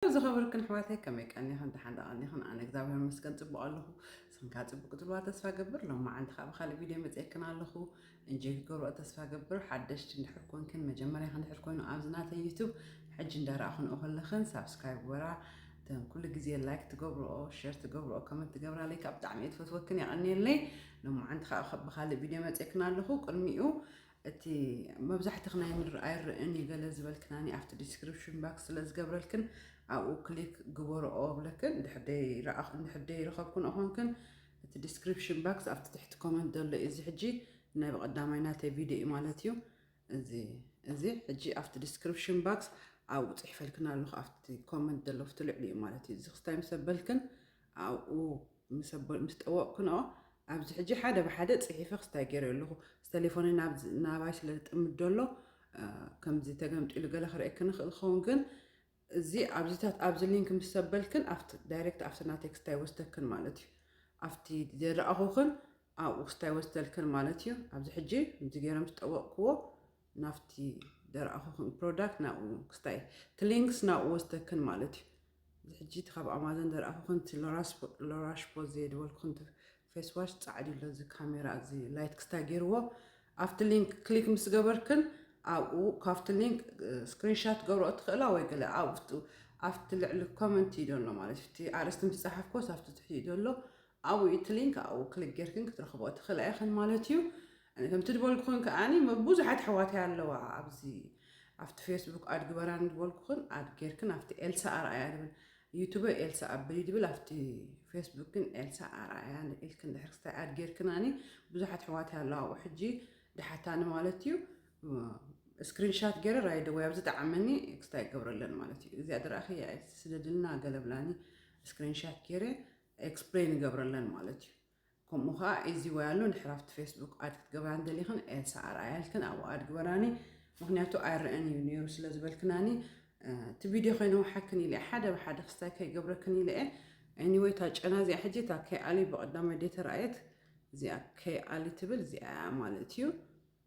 ዝኸበርክን ኣሕዋተይ ከመይ ቀኒኽን ደሓን ዶ ቀኒኽን ኣነ እግዚኣብሔር ይመስገን ጽቡቕ ኣለኹ እስኽን ከኣ ጽቡቕ ክትብልዋ ተስፋ ገብር ሎም መዓልቲ ከኣ ብካልእ ቪድዮ መጽኤክን ኣለኹ እንጆይ ክትገብርኦ ተስፋ ገብር ሓደሽቲ እንድሕር ኮንክን መጀመርያኺ እንድሕር ኮይኑ ኣብዚ ናተይ ዩቱብ ሕጂ እንዳረኣኹንኦ ከለኽን ሳብስክራይብ ግበራ እተን ኩሉ ግዜ ላይክ ትገብርኦ ሸር ትገብርኦ ከመንት ትገብራለይ ካብ ብጣዕሚ እየ ትፈትወክን የቐንየለይ ሎማዓንቲ ከዓ ብካልእ ቪድዮ መፅክን ኣለኹ ቅድሚኡ እቲ መብዛሕትኽ ናይ ምድሪ ኣይረእን እዩ ገለ ዝበልክናኒ ኣብቲ ዲስክሪፕሽን ባክስ ስለ ዝገብረልክን ኣብኡ ክሊክ ግበርኦ እብለክን እንድሕር ደይረኸብክንኦ ኮንክን እቲ ዲስክሪፕሽን ባክስ ኣብቲ ትሕቲ ኮመንት ዘሎ እዩ እዚ ሕጂ ናይ ብቐዳማይ ናተይ ቪድዮ እዩ ማለት እዩ እዚ እዚ ሕጂ ኣብቲ ዲስክሪፕሽን ባክስ ኣብኡ ፅሒፈልክን ኣለኹ ኣብቲ ኮመንት ዘሎ ኣብቲ ልዕሊ እዩ ማለት እዩ እዚ ክስታይ ምስ ኣበልክን ኣብኡ ምስ ጠወቕክንኦ፣ ኣብዚ ሕጂ ሓደ ብሓደ ጽሒፈ ክስታይ ገይረዮ ኣለኹ። ስተሌፎነይ ናባይ ስለ ዝጥምት ደሎ ከምዚ ተገምጢሉ ገለ ክርእየክን ይኽእል ክኸውን፣ ግን እዚ ኣብዚታት ኣብዚ ሊንክ ምስ ሰበልክን ኣብቲ ዳይሬክት ኣብቲ ናተይ ክስታይ ይወስደክን ማለት እዩ። ኣብቲ ዘልኣኹክን ኣብኡ ክስታይ ይወስደልክን ማለት እዩ። ኣብዚ ሕጂ ከምዚ ገይረ ምስ ጠወቕክዎ ናብቲ ዘርኣኹክን ፕሮዳክት ናብኡ ክስታይ እቲ ሊንክስ ናብኡ ወስደክን ማለት እዩ። ሕጂ እቲ ካብ ኣማዞን ዘርኣኹኽን እቲ ሎራሽ ፖዝ ዘየድበልኩኽን እቲ ፌስ ዋሽ ጻዕድ ኣሎ እዚ ካሜራ እዚ ላይት ክስታይ ገይርዎ ኣብቲ ሊንክ ክሊክ ምስ ገበርክን ኣብኡ ካብቲ ሊንክ ስክሪንሻት ገብረኦ ትኽእላ ወይ ገለ ኣብቲ ልዕሊ ኮመንት እዩ ዘሎ ማለት እቲ ኣርእስቲ ምስ ጸሓፍኮስ ኣብቲ ትሕቲ እዩ ዘሎ ኣብኡ እቲ ሊንክ ኣብኡ ክሊክ ጌርክን ክትረኽብኦ ትኽእላ ኢኽን ማለት እዩ። ከምቲ ድበልኩኽን ከኣኒ ብዙሓት ኣሕዋተይ ኣለዋ ኣብዚ ኣብቲ ፌስቡክ ኣድ ግበራኒ ድበልኩኽን ኣድ ጌርክን ኣብቲ ኤልሳ ኣርኣያ ድብል ዩቱበይ ኤልሳ ኣብሊ ድብል ኣብቲ ፌስቡክ ግን ኤልሳ ኣርኣያ ኢልክን ድሕሪ ክስታይ ኣድ ጌርክናኒ ብዙሓት ኣሕዋተይ ኣለዋ ኣብኡ ሕጂ ድሓታኒ ማለት እዩ ስክሪንሻት ገይረ ራይደ ወይ ኣብ ዝጠዓመኒ ክስታይ ገብረለን ማለት እዩ እዚኣ ድረኣኺ ስደድልና ገለብላኒ ስክሪንሻት ገይረ ኤክስፕለይን ንገብረለን ማለት እዩ። ከምኡ ከኣ ኤዚ ወይ ኣሎ ድሕር ኣብቲ ፌስቡክ ኣድ ክትገብራ እንተደሊክን ኤልሳ ኣርኣያልክን ኣብኡ ኣድ ግበራኒ ምክንያቱ ኣይረኣን እዩ ነይሩ ስለ ዝበልክናኒ እቲ ቪድዮ ከይነውሓክን ኢለ ሓደ ብሓደ ክስታይ ከይገብረክን ኢለ እየ ኤኒወይ እታ ጨና እዚኣ ሕጂ እታ ከይኣሊ ብቐዳማይ ደይ ተረኣየት እዚኣ ከይኣሊ ትብል እዚኣ ማለት እዩ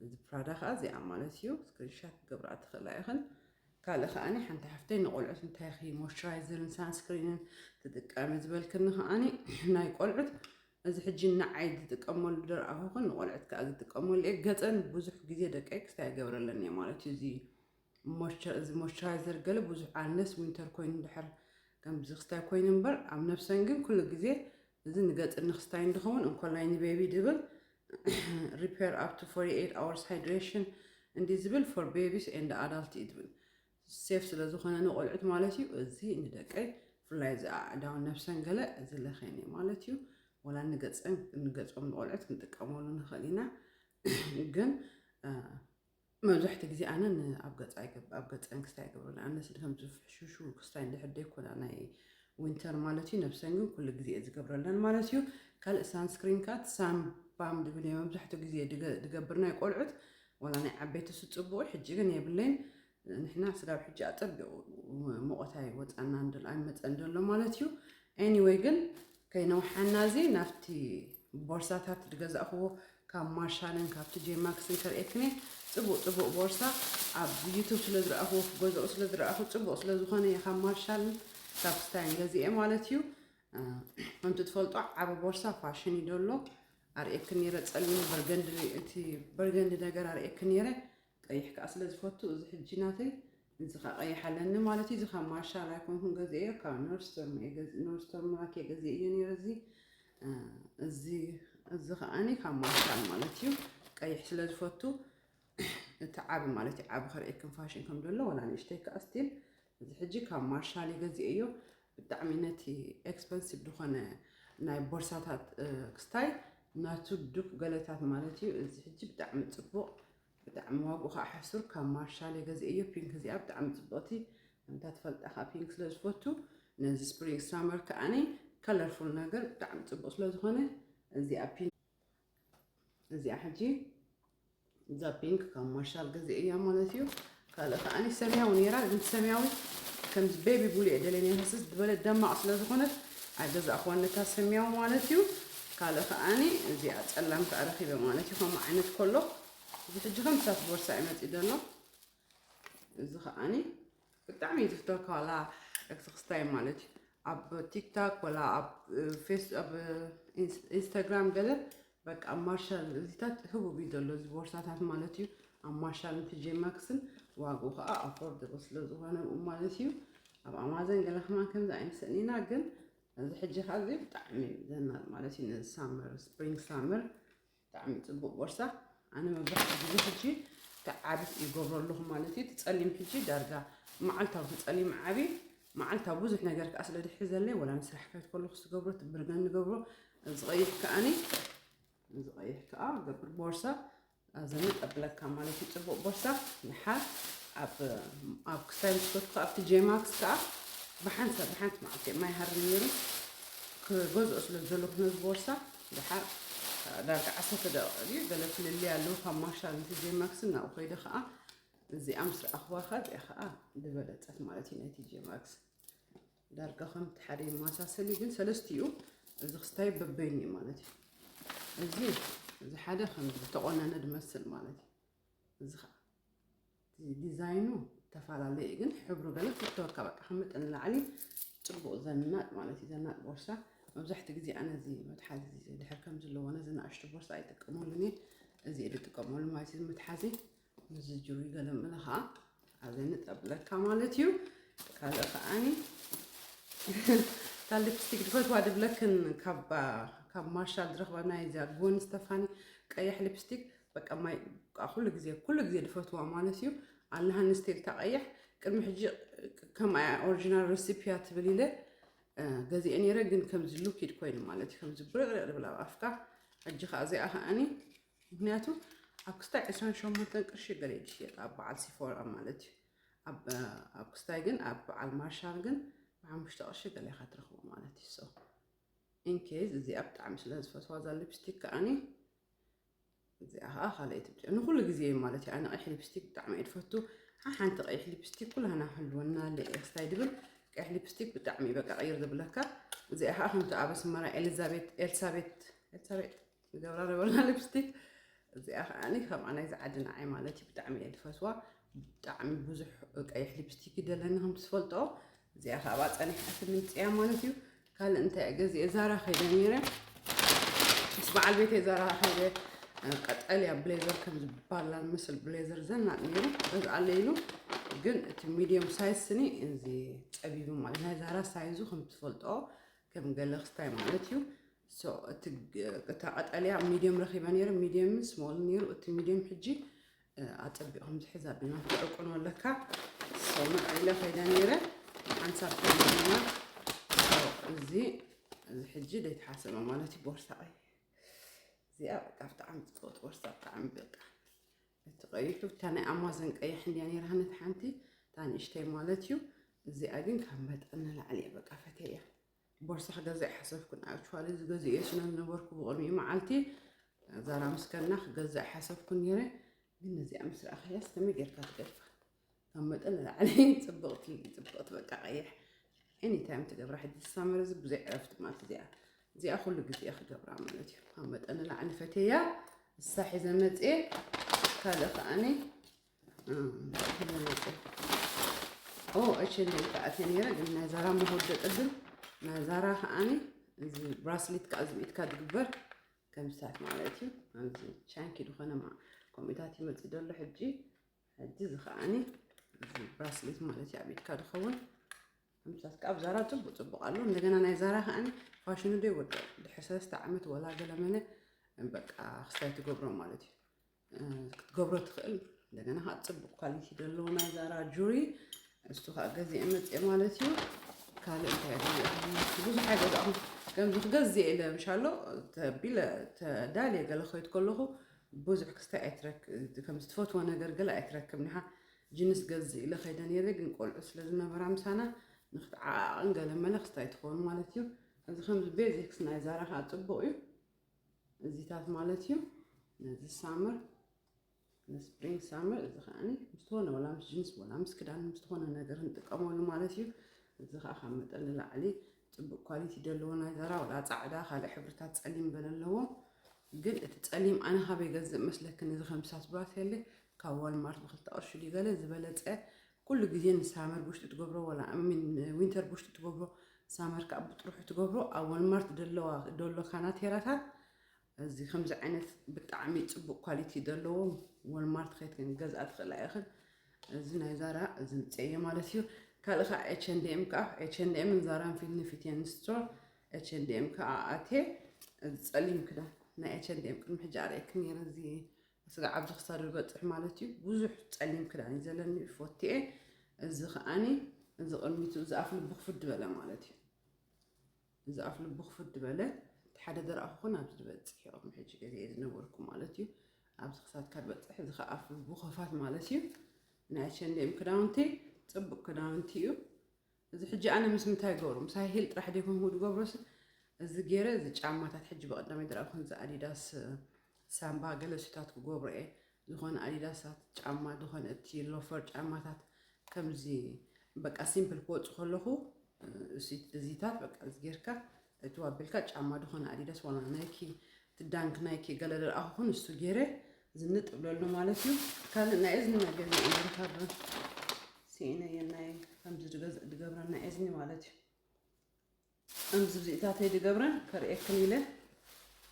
ነዚ ፕራዳ ከኣ እዚኣ ማለት እዩ ስክሪንሻት ክገብራ ትኽእላ ኢኽን። ካልእ ከኣኒ ሓንቲ ሓፍተይ ንቆልዑት እንታይ ኢኺ ሞይስቸራይዘርን ሳንስክሪንን ትጥቀሚ ዝበልክኒ ከኣኒ ናይ ቆልዑት እዚ ሕጂ ንዓይ ዝጥቀመሉ ደርኣኹኽን ንቆልዑት ከኣ ዝጥቀመሉ እየ ገጸን ብዙሕ ግዜ ደቀይ ክስታይ ይገብረለን እየ ማለት እዩ እዚ እዚ ሞይስቸራይዘር ገለ ብዙሕ ኣነስ ዊንተር ኮይኑ ድሕር ከምዚ ክስታይ ኮይኑ እምበር ኣብ ነብሰን ግን ኩሉ ግዜ እዚ ንገጽ እንክስታይ እንድኸውን እንኮላይ ንቤቢ ድብል ሪፐር ኣፕ ቱ ፎርቲ ኤይት ኣወርስ ሃይድሬሽን እንዲ ዝብል ፎር ቤቢስ ኤንድ ኣዳልት እዩ ዝብል ሴፍ ስለ ዝኾነ ንቆልዑት ማለት እዩ እዚ ንደቀይ ብፍላይ እዚ ኣእዳውን ነብሰን ገለ እዚ ለኸየን እዩ ማለት እዩ ወላ ንገጸን ንገጾም ንቆልዑት ክንጥቀመሉ ንኽእል ኢና ግን መብዛሕትኡ ግዜ ኣነ ኣብ ገፅ ኣብ ገፀን ክስታይ ኣይገብረን ኣነ ስለ ከም ዝፍሕሹሹ ክስታይ እንድሕር ዘይኮነ ናይ ዊንተር ማለት እዩ ነብሰን ግን ኩሉ ግዜ እየ ዝገብረለን ማለት እዩ ካልእ ሳንስክሪን ካት ሳምባም ድብል እየ መብዛሕትኡ ግዜ ድገብር ናይ ቆልዑት ዋላ ናይ ዓበይቲ ስፅቡቑ ሕጂ ግን የብለይን ንሕና ስጋብ ሕጂ ኣፀቢቑ ሙቐት ኣይወፃና ኣይመፀን ዘሎ ማለት እዩ ኤኒወይ ግን ከይነውሓና እዚ ናብቲ ቦርሳታት ዝገዛእክዎ ካብ ማርሻልን ካብ ቲጄ ማክስን ከርእየክን እየ ጽቡቅ ጽቡቅ ቦርሳ ኣብ ዩቱብ ስለ ዝረኣኽዎ ክገዝኦ ስለ ዝረኣኹ ጽቡቅ ስለ ዝኾነ እየ ካብ ማርሻልን ካብ ስታይን ገዚኤ ማለት እዩ ከምቲ ትፈልጦ ዓበ ቦርሳ ፋሽን እዩ ደሎ ኣርእየክን ነይረ ጸሊም በርገንዲ እቲ በርገንዲ ነገር ኣርእየክን ነይረ ቀይሕ ከኣ ስለ ዝፈቱ እዚ ሕጂ ናተይ እዚ ከኣ ቀይሕ ኣለኒ ማለት እዩ እዚ ካብ ማርሻል ኣይኮንኩን ገዚኤዮ ካብ ኖርስቶርም እየ ገዚ ኖርስቶርም ማኪ ገዚኤዮ ነይረ እዚ እዚ እዚ ከኣኒ ካብ ማርሻል ማለት እዩ ቀይሕ ስለ ዝፈቱ እቲ ዓቢ ማለት እዩ ዓቢ ከርእየክን ፋሽን ከም ዘሎ ወላ ንእሽተይ ከኣ ስቲል እዚ ሕጂ ካብ ማርሻሊ ገዚኤዮ ብጣዕሚ ነቲ ኤክስፐንሲቭ ዝኾነ ናይ ቦርሳታት ክስታይ ናቱ ዱክ ገለታት ማለት እዩ እዚ ሕጂ ብጣዕሚ ጽቡቕ ብጣዕሚ ዋግኡ ከዓ ሕሱር ካብ ማርሻሊ ገዚኤዮ ፒንክ እዚኣ ብጣዕሚ ጽቡቕቲ ከምታ ትፈልጣ ከዓ ፒንክ ስለ ዝፈቱ ነዚ ስፕሪንግ ሳመር ከዓኒ ከለርፉል ነገር ብጣዕሚ ጽቡቕ ስለ ዝኾነ እዚኣ ፒንክ እዚኣ ሕጂ እዛ ፒንክ ካብ ማርሻል ገዜ እያ ማለት እዩ ካልእ ከዓኒ ሰማያዊ ነይራ ግን ሰማያዊ ከምዚ ቤቢ ቡሉ እየ ደለየ ነይረ ስስ ዝበለ ደማቕ ስለ ዝኾነት ኣይገዛእኹዋን ነታ ሰማያዊ ማለት እዩ ካልእ ከዓኒ እዚኣ ፀላም ከዓ ረኺበ ማለት እዩ ከምኡ ዓይነት ከሎ እዚ ሕጂ ከም ሳት ቦርሳ እዩ መፂኡ ዘሎ እዚ ከዓኒ ብጣዕሚ እየ ዝፍተወካ ዋላ ክስክስታይ ማለት እዩ ኣብ ቲክታክ ወላ ኣብ ፌስ ኣብ ኢንስታግራም ገለ በቃ ኣብ ማርሻል እዚታት ህቡብ እዩ ዘሎ እዚ ቦርሳታት ማለት እዩ ኣብ ማርሻል ንትጀማክስን ዋግኡ ከዓ ኣፎርደብል ስለ ዝኾነ ማለት እዩ ኣብ ኣማዘን ገለ ከማ ከምዚ ኣይንስእን ኢና ግን እዚ ሕጂ ከዓ እዚ ብጣዕሚ ዘናል ማለት እዩ ነዚ ሳመር ስፕሪንግ ሳመር ብጣዕሚ ጽቡቅ ቦርሳ ኣነ መብዛሕትኡ ግዜ ሕጂ ትዓብ ይገብሮ ኣለኹ ማለት እዩ ትጸሊም ሕጂ ዳርጋ መዓልታዊ ትጸሊም ዓቢ መዓልታዊ ብዙሕ ነገር ከዓ ስለ ድሕሪ ዘለይ ወላ ንስራሕ ከይት ከለኹ ዝገብሮ ትብርገን ንገብሮ ዝቐይሕ ከዓኒ ዝቐይሕ ከዓ ገብር ቦርሳ ኣዘኒ ጠብለካ ማለት እዩ ጽቡቅ ቦርሳ ንሓር ኣብ ክሳይ ምስኮት ከዓ ኣብቲ ጄማክስ ከዓ ብሓንሳ ብሓንቲ መዓልቲ ማይ ሃር ነይሩ ክገዝኦ ስለ ዘለኹ ነዚ ቦርሳ ደሓር ዳርጋ ዓሰርተ ደቒቕ ድዩ ገለ ፍልልይ ኣለዎ ካብ ማርሻል ን ቲጄ ማክስን ናብኡ ከይደ ከኣ እዚኣ ምስ ረኣኽዋ ከኣ እዚኣ ከኣ ዝበለጸት ማለት እዩ ናይ ቲጄ ማክስ ዳርጋ ከምቲ ሓደ ይመሳሰል እዩ ግን ሰለስቲኡ እዚ ክስታይ በበይኑ እዩ ማለት እዩ እዚ እዚ ሓደ ከም ዝተቖነነ ዝመስል ማለት እዩ እዚ ከኣ እቲ ዲዛይኑ ተፈላለየ እዩ፣ ግን ሕብሩ ገለ ፍተወካ በቃ ካብ መጠን ንላዕሊ ጽቡቕ ዘናጥ ማለት እዩ። ዘናጥ ቦርሳ መብዛሕትኡ ግዜ ኣነ እዚ መትሓዚ ድሕር ከም ዘለዎ ነዚ ንኣሽቱ ቦርሳ ኣይጥቀመሉን እየ እዚ እየ ዝጥቀመሉ ማለት እዩ። መትሓዚ ምስዚ ጅሩይ ገለ ምለ ከዓ ኣብዚ ንጠብለካ ማለት እዩ ካልእ ከዓኒ ካብ ሊፕስቲክ ድፈትዋ ድብለክን ካብ ካብ ማርሻል ዝረኽባ ናይ እዚኣ ጎን ስተፋኒ ቀያሕ ሊፕስቲክ በቃ ማይ ኩሉ ግዜ ኩሉ ግዜ ድፈትዋ ማለት እዩ ኣላሃኒ ስቴል ታቀያሕ ቅድሚ ሕጂ ከም ኣያ ኦሪጂናል ረሲፒያ ትብል ኢለ ገዚአ ነይረ ግን ከምዚ ሉኪድ ኮይኑ ማለት እዩ ከምዚ ብርዕርዕ ድብል ኣብ ኣፍካ ሕጂ ከዓ እዚኣ ከዓኒ ምክንያቱ ኣብ ክስታይ ዕስራን ሸሞንተን ቅርሺ ገለ ትሽየጥ ኣብ በዓል ሲፎራ ማለት እዩ ኣብ ኣብ ክስታይ ግን ኣብ በዓል ማርሻል ግን ብሓሙሽተ ቅርሺ ገለ ኢኻ ትረኽቦ ማለት እዩ ሶ ኢንኬዝ እዚኣ ብጣዕሚ ስለ ዝፈትዋ እዛ ሊፕስቲክ ከዓኒ እዚኣ ከዓ ካልኣይቲ ብጫ ንኩሉ ግዜ እዩ ማለት እዩ ኣነ ቀይሕ ሊፕስቲክ ብጣዕሚ እየ ዝፈቱ ሓንቲ ቀይሕ ሊፕስቲክ ኩላህና ህልወና ክስታይ ድብል ቀይሕ ሊፕስቲክ ብጣዕሚ እዩ በቃ ቀይር ዝብለካ እዚኣ ከዓ ከምቲ ኣብ ኣስመራ ኤልዛቤት ኤልሳቤት ኤልሳቤጥ ንገብራ ነበርና ሊፕስቲክ እዚኣ ከዓኒ ከምኣ ናይዚ ዓዲ ንዓይ ማለት እዩ ብጣዕሚ እየ ዝፈትዋ ብጣዕሚ ብዙሕ ቀይሕ ሊፕስቲክ ይደለኒ ከም ትፈልጦ እዚኣ ካብኣ ፀኒሓ ትምንፅያ ማለት እዩ ካልእ እንታይ እየ ገዚአ ዛራ ከይደ ነይረ ምስ በዓል ቤተ ዛራ ከይደ ቀጠልያ ብሌዘር ከም ዝበሃል ምስል ብሌዘር ዘናጥ ነይሩ ገዝኣለይ ኢሉ ግን እቲ ሚድየም ሳይዝ ስኒ እዚ ፀቢቡ ማለት ናይ ዛራ ሳይዙ ከም ትፈልጦ ከም ገለክስታይ ማለት እዩ ሶ እቲ እታ ቀጠልያ ሚድየም ረኺበ ነይረ ሚድየምን ስሞልን ነይሩ እቲ ሚድየም ሕጂ ኣጸቢቕም ዝሕዝ ኣቢልና ትዕቁኖ ኣለካ ሶ ምዕኢለ ከይደ ነይረ ሓንሳብ ከይና እዚ እዚ ሕጂ ዘይተሓሰበ ማለት እዩ ቦርሳ እዩ እዚኣ በቃ ብጣዕሚ ዝፀወት ቦርሳ ብጣዕሚ በቃ እቲ ቀይሑ እታ ናይ ኣማዘን ቀይሕ እንዲያ ነይራ ነቲ ሓንቲ እታ ንእሽተይ ማለት እዩ እዚኣ ግን ካብ መጠን ንላዕሊ እየ በቃ ፈትየ እያ ቦርሳ ክገዝእ ኣይሓሰብኩን። ኣክቹዋሊ ዝገዝእዮ ስለ ዝነበርኩ ብቕድሚኡ መዓልቲ ዛራ ምስ ከድና ክገዝእ ኣይሓሰብኩን ነይረ። ግን እዚኣ ምስ ረኣኻያስ ከመይ ጌርካ ትገድፋ? ካብ መጠን ንላዕሊ ጽብቕቲ ጽብቕቲ በቃ ቀይሕ ኤኒ ታይም ትገብራ ሕጂ ሳመር እዚ ብዘይ ዕረፍቲ ማለት እዚኣ እዚኣ ኩሉ ግዜ ክገብራ ማለት እዩ ካብ መጠን ንላዕሊ ፈቴያ እሳ ሒዘ መፅኤ ካልእ ከዓኒ ኦ እቺ እንደይ ተኣትየ ነይረ ግን ናይ ዛራ መወደ ቅድም ናይ ዛራ ከዓኒ እዚ ብራስሊት ከዓ እዚ ኢድካ ዝግበር ከምሳት ማለት እዩ ኣብዚ ቻንኪ ዝኾነ ከምኡታት ይመፅእ ዘሎ ሕጂ ሕጂ እዚ ከዓኒ እዚ ብራስሊት ማለት እዩ ኣብ ኢድካ ዝኸውን ከምሳት ከዓ ኣብ ዛራ ፅቡቅ ፅቡቅ ኣሎ እንደገና ናይ ዛራ ከዓኒ ፋሽኑ ዶ ይወድቕ ድሕሪ ሰለስተ ዓመት ወላ ገለመለ በቃ ክስታይ ትገብሮ ማለት እዩ ክትገብሮ ትኽእል እንደገና ከዓ ፅቡቅ ኳሊቲ ዘለዎ ናይ ዛራ ጁሪ እሱ ከዓ ገዚአ መፅአ ማለት እዩ ካልእ እንታይ ብዙሕ ኣይገዛእኹም ከምዚ ክገዝእ ኢለ ምሻሎ ተቢለ ተዳልየ ገለ ከይድ ከለኹ ብዙሕ ክስታይ ኣይትረክ ከም ዝትፈትዎ ነገር ገለ ኣይትረክብ ኒኻ ጅንስ ገዝእ ኢለ ከይደ ነይረ ግን ቆልዑ ስለ ዝነበራ ምሳና ንክትዓዓቕን ገለ መለ ክስታይ ትኸውን ማለት እዩ እዚ ከምዚ ቤዚክስ ናይ ዛራ ከዓ ፅቡቅ እዩ እዚታት ማለት እዩ ነዚ ሳምር ንስፕሪንግ ሳምር እዚ ከዓ ምስተኾነ ወላ ምስ ጅንስ ወላ ምስ ክዳን ምስተኾነ ነገር ንጥቀመሉ ማለት እዩ እዚ ከዓ ካብ መጠን ንላዕሊ ፅቡቅ ኳሊቲ ዘለዎ ናይ ዘራ ወላ ፃዕዳ ካልእ ሕብርታት ፀሊም በለ ኣለዎ ግን እቲ ፀሊም ኣነ ካበይ ገዝእ መስለክን እዚ ከምሳስ ብራሴል ካብ ዋልማርት ብክልተ ቅርሺ ድዩ ገለ ዝበለፀ ኩሉ ግዜ ን ሳመር ቡሽጢ ትገብሮ ወላ ን ዊንተር ቡሽጢ ትገብሮ ሳመር ከኣ ብጥርሑ ትገብሮ ኣብ ወልማርት ደለዋ ዶሎ ካናቴራታት እዚ ከምዚ ዓይነት ብጣዕሚ ጽቡቅ ኳሊቲ ደለዎ ወልማርት ከይት ክንገዝኣ ትኽእላ ኢኽን እዚ ናይ ዛራ እዚ ምጽኤ ማለት እዩ ካልእ ከኣ ኤች ኤንድ ኤም ከኣ ኤች ኤንድ ኤም ዛራን ፊት ንፊት የን ስቶር ኤች ኤንድ ኤም ከኣ ኣቴ እዚ ጸሊም ክዳን ናይ ኤች ኤንድ ኤም ቅድሚ ሕጂ ኣርእየክን ነይረ እዚ ስጋዕ ኣብዚ ክሳዱ ይበጽሕ ማለት እዩ ብዙሕ ጸሊም ክዳን እዩ ዘለኒ ፎቲኤ እዚ ከዓኒ እዚ ቅድሚቱ እዚ ኣፍ ልቡ ክፍድ በለ ማለት እዩ እዚ ኣፍ ልቡ ክፍድ በለ እቲ ሓደ ዘርኣ ክኾን ኣብዚ ዝበጽሕ እዮም ሕጂ ገዜ እየ ዝነበርኩ ማለት እዩ ኣብዚ ክሳድካ ዝበጽሕ እዚ ከዓ ኣፍ ልቡ ከፋት ማለት እዩ ናይ ሸንዴም ክዳውንቲ ጽቡቅ ክዳውንቲ እዩ እዚ ሕጂ ኣነ ምስ ምንታይ ይገብሮ ምስ ሃይ ሂል ጥራሕ ድየ ከምኡ ዝገብሮስ እዚ ገይረ እዚ ጫማታት ሕጂ በቀዳማይ ድርኣብ ከምዚ ኣዲዳስ ሳምባ ገለ ሱታት ክገብሮ እየ ዝኾነ ኣዲዳሳት ጫማ ዝኾነ እቲ ሎፈር ጫማታት ከምዚ በቃ ሲምፕል ክወፁ ከለኹ እዚታት በቃ እዚ ጌርካ እቱ ኣቢልካ ጫማ ድኾነ ኣዲዳስ ዋላ ናይኪ እቲ ዳንክ ናይኪ ገለ ልርኣኹ ኩን እሱ ገይረ ዝንጥ እብለሉ ማለት እዩ ካልእ ናይ እዝኒ መገዚ እመርካብ ስኢነየ ናይ ከምዚ ድገብረን ናይ እዝኒ ማለት እዩ ከምዚ ብዚእታተይ ድገብረን ከርእየክን ኢለ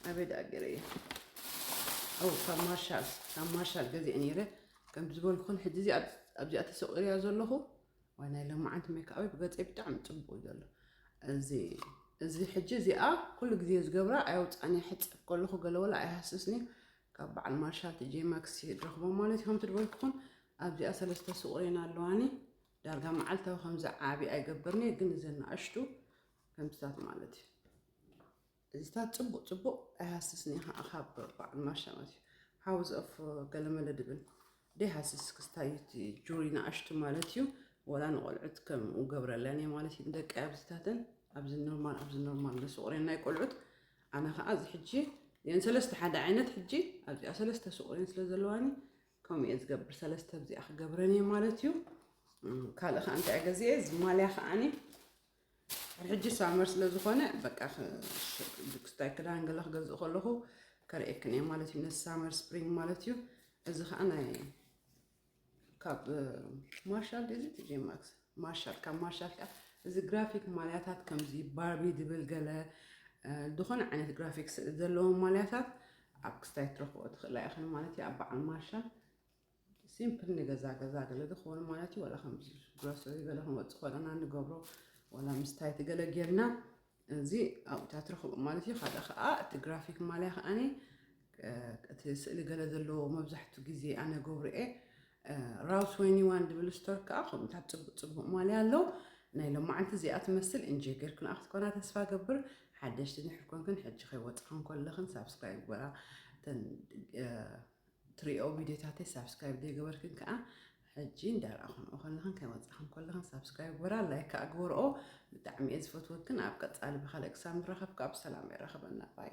ኣበይ ደኣ ገይረ እየ ኣው ካብ ማርሻል ካብ ማርሻል ገዚአ ነይረ ከም ዝበልኩን ሕጂ እዚ ኣብዚኣ ተሰቂርያ ዘለኹ ዋይ ናይ ሎማዓንቲ ሜካኣበይ ብገፀይ ብጣዕሚ ፅቡቅ እዩ ዘሎ እዚ እዚ ሕጂ እዚኣ ኩሉ ግዜ ዝገብራ ኣየውፃእን እየ ሕፅብ ከለኹ ገለ ወላ ኣይሃስስን እዩ ካብ በዓል ማርሻል ትጄ ማክስ እዩ ድረኽቦ ማለት እዩ ከምቲ ድበልኩኹም ኣብዚኣ ሰለስተ ስቁሬን ኣለዋኒ ዳርጋ መዓልታዊ ከምዚ ዓብዪ ኣይገብርን እየ ግን እዘን ንኣሽቱ ከምዚታት ማለት እዩ እዚታት ጽቡቅ ጽቡቅ ኣይሃስስን እዩ ከኣ ካብ በዓል ማሻ ማለት እዩ ሓው ዘእፍ ገለመለ ድብል ደይሃስስ እስክስታ እዩ እቲ ጁሪ ንኣሽቱ ማለት እዩ ወላ ንቆልዑት ከምኡ ገብረለን እየ ማለት እዩ ንደቂ ኣብዚታተን ኣብዚ ኖርማል ኣብዚ ኖርማል ንስቁሬን ናይ ቆልዑት ኣነ ከዓ እዚ ሕጂ እየን ሰለስተ ሓደ ዓይነት ሕጂ ኣብዚኣ ሰለስተ ስቁሬን ስለ ዘለዋኒ ከምኡ እየ ዝገብር ሰለስተ ኣብዚኣ ክገብረን እየ ማለት እዩ ካልእ ከዓ እንታይ ገዚአ እዚ ማልያ ከዓኒ ሕጂ ሳመር ስለ ዝኾነ በቃ ክስታይ ክዳን ገለ ክገዝእ ከለኹ ከርእየክን እየ ማለት እዩ ነዚ ሳመር ስፕሪንግ ማለት እዩ እዚ ከዓ ናይ ካብ ማርሻል እዚ ቲጄማክስ ማርሻል ካብ ማርሻል ከዓ እዚ ግራፊክ ማልያታት ከምዚ ባርቢ ድብል ገለ ዝኾነ ዓይነት ግራፊክስ ዘለዎም ማልያታት ኣብ ክስታይ ትረኽቦ ትኽእላ ኢኽን ማለት እዩ ኣብ በዓል ማርሻል ሲምፕል ንገዛ ገዛ ገለ ዝኾኑ ማለት እዩ ዋላ ከም ግሮሰሪ ገለ ክንወፅእ ከለና ንገብሮ ዋላ ምስታይ እቲ ገለ ጌርና እዚ ኣብታ ትረኽቦ ማለት እዩ ሓደ ከዓ እቲ ግራፊክ ማልያ ከዓኒ እቲ ስእሊ ገለ ዘለዎ መብዛሕትኡ ግዜ ኣነ ገብሮ እየ ራውስ ወይኒ ዋን ድብል ስቶር ከዓ ከምኡታት ፅቡቅ ፅቡቅ ማልያ ኣሎ ናይ ሎማዓንቲ እዚኣ ትመስል እንጂ ጌርክን ኣብ ክትኮና ተስፋ ገብር ሓደሽቲ ንሕር ኮንክን ሕጂ ከይወፅኽን ከለኽን ሳብስክራይብ ግበራ ትሪኦ ቪድዮታተይ ሳብስክራይብ ዘይገበርክን ከኣ ሕጂ እንዳረኣኹንኦ ከለኽን ከይወጻኽን ከለኽን ሳብስክራይብ ግበራ ላይክ ከኣ ግበርኦ ብጣዕሚ እየ ዝፈትወክን ኣብ ቀጻሊ ብኻልእ ክሳብ ንራኸብ ከኣ ብሰላም የራኽበና ባይ